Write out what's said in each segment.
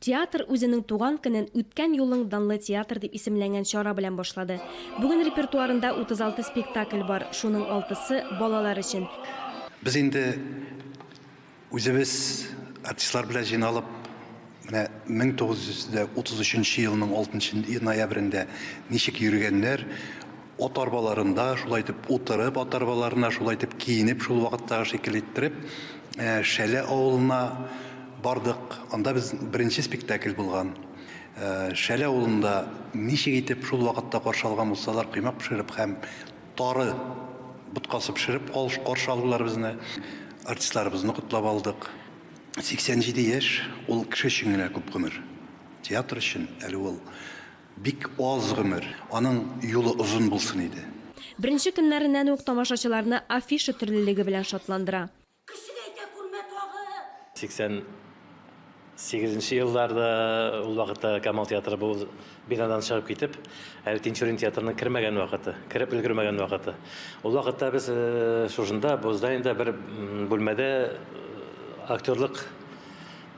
Театр үзенең туган көнен Үткән юлың данлы театр дип исемләнгән чара белән башлады. Бүген репертуарында 36 спектакль бар, шуның алтысы, балалар өчен. Без инде үзебез артистлар белән җыйналып, менә 1933 елның 6 ноябрендә ничек йөргәннәр, Ат арбаларында шулай итеп утырып, ат арбаларына шулай итеп киенеп, шул вакыттагы шикелле иттереп, э, Шәле авылына бардык. Анда без беренче спектакль булган. Э, Шәле авылында ничек итеп шул вакытта каршы алган булсалар, коймак пешереп һәм тары боткасы пешереп калш- каршы алдылар безне. Артистларыбызны котлап алдык. 87 яшь, ул кеше өчен генә күп гомер. Театр өчен әле ул. Бик аз гомер, аның юлы озын булсын иде. Беренче көннәреннән үк тамашачыларны афиша төрлелеге белән шатландыра. Кеше әйтә күрмә тагы! 88 нче елларда, ул вакытта Камал театры бу бинадан чыгып китеп, әле Тинчурин театрының кермәгән вакыты, кереп өлгермәгән вакыты. Ул вакытта без шушында, бу зданиедә бер бүлмәдә актерлык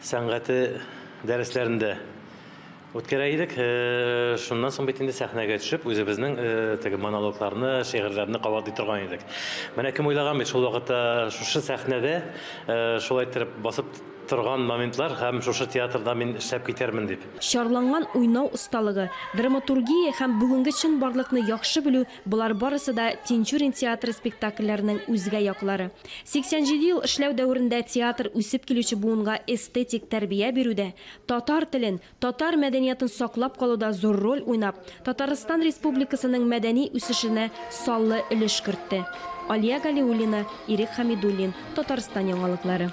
сәнгате дәресләрендә, Үткәрә идек. Шуннан соң бит инде сәхнәгә төшеп, үзебезнең теге монологларны, шигырьләрне кабатлый торган идек. Менә кем уйлаган бит шул вакытта шушы сәхнәдә шулай иттереп басып торган моментлар һәм шушы театрда мин эшләп китәрмен дип. Чарланган уйнау осталыгы, драматургия һәм бүгенге чынбарлыкны яхшы белү, болар барысы да Тинчурин театры спектакльләренең үзгә яклары. 87 ел эшләү дәверендә театр үсеп килүче буынга эстетик тәрбия бирүдә, Татар телен, татар мәдәниятын саклап калуда зур роль уйнап, Татарстан Республикасының мәдәни үсешенә саллы өлеш кертте. Алия Галиуллина, Ирек Хәмидуллин, Татарстан яңалыклары.